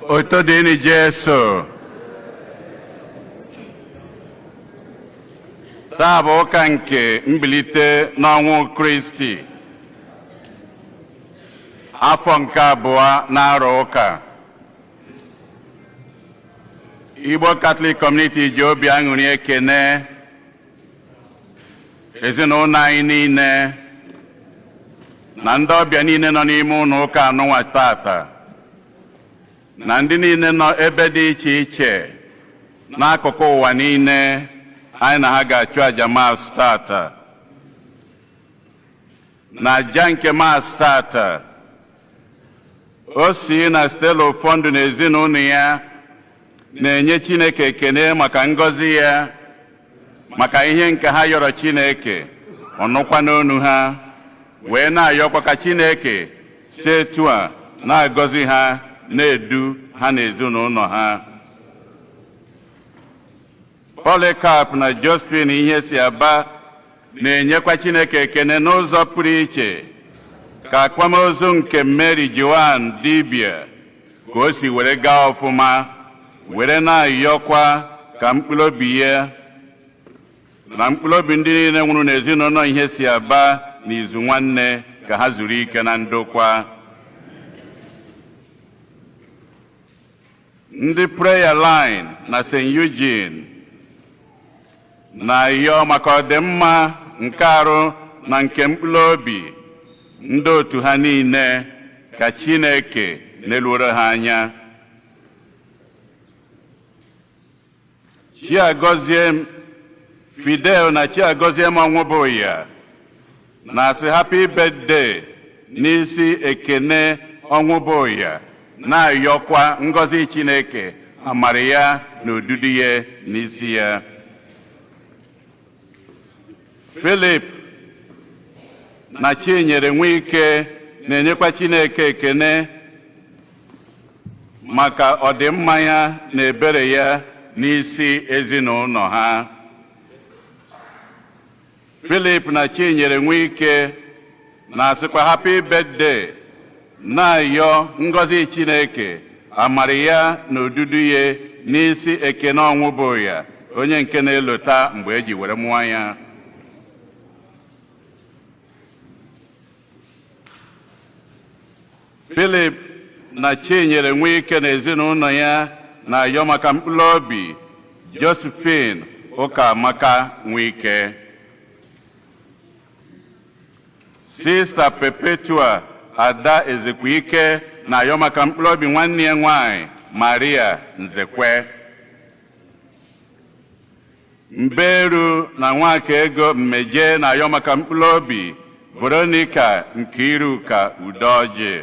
Otito dịrị Jesu. Taa bụ ụka nke mbilite n'ọnwụ Kristi. Afọ nke abụọ n'arọ ụka. Igbo Catholic Community ji obi aṅụrị ekene ezinụlọ anyị niile na ndị ọbịa niile nọ n'ime ụlọ ụka anụnwa tata na ndị niile nọ ebe dị iche iche n'akụkụ ụwa niile anyị na ha ga-achụ aja Mass tata na aja nke Mass tata Osy na Stella Ofondu na ezinụlọ ya na-enye Chineke ekene maka ngọzi ya maka ihe nke ha yọrọ Chineke ọ nụkwa n'onu ha wee na-ayọkwa ka Chineke si etu a na-agọzi ha na-edu ha na ezinụlọ ha Polycarp na Josephine Ihesiaba na-enyekwa Chineke ekene n'ụzọ pụrụ iche ka akwamozu nke Mary Joan Dibia ka o si were gaa ọfụma were na-ayọkwa ka mkpụrụ obi ya na mkpụrụ obi ndị niile nwụrụ n'ezinụlọ Ihesiaba na Izunwanne ka ha zuru ike na ndokwa ndị Prayer Line na St. Eugene na-ayọ maka ọdịmma nke arụ na nke mkpụrụ obi ndị otu ha niile ka Chineke neluoro ha anya Chiagoziem Fidel na Chiagoziem Onwubuya na-asị happy birthday n'isi Ekene Onwubuya na-ayọkwa ngọzi Chineke amara ya na odudu ya n'isi ya Philip na Chinyere Nwike na-enyekwa Chineke ekene maka ọdịmma ya na ebere ya n'isi ezinụlọ ha Philip na Chinyere Nwike na-asịkwa happy birthday na-ayọ ngọzi Chineke amara ya na odudu ya n'isi Ekene Ọnwụbuya onye nke na-elota mgbe eji were mụọ ya Philip na Chinyere Nwike na ezinụlọ ya na-ayọ maka mkpụrụ obi Josephine Ụkamaka Nwike Sista Perpetua Ada Ezekwike na-ayọ maka mkpụrụ obi nwanne ya nwanyị Maria Nzekwe Mberu na Nwakaego Mmeje na-ayọ maka mkpụrụ obi Veronica Nkiruka Udoji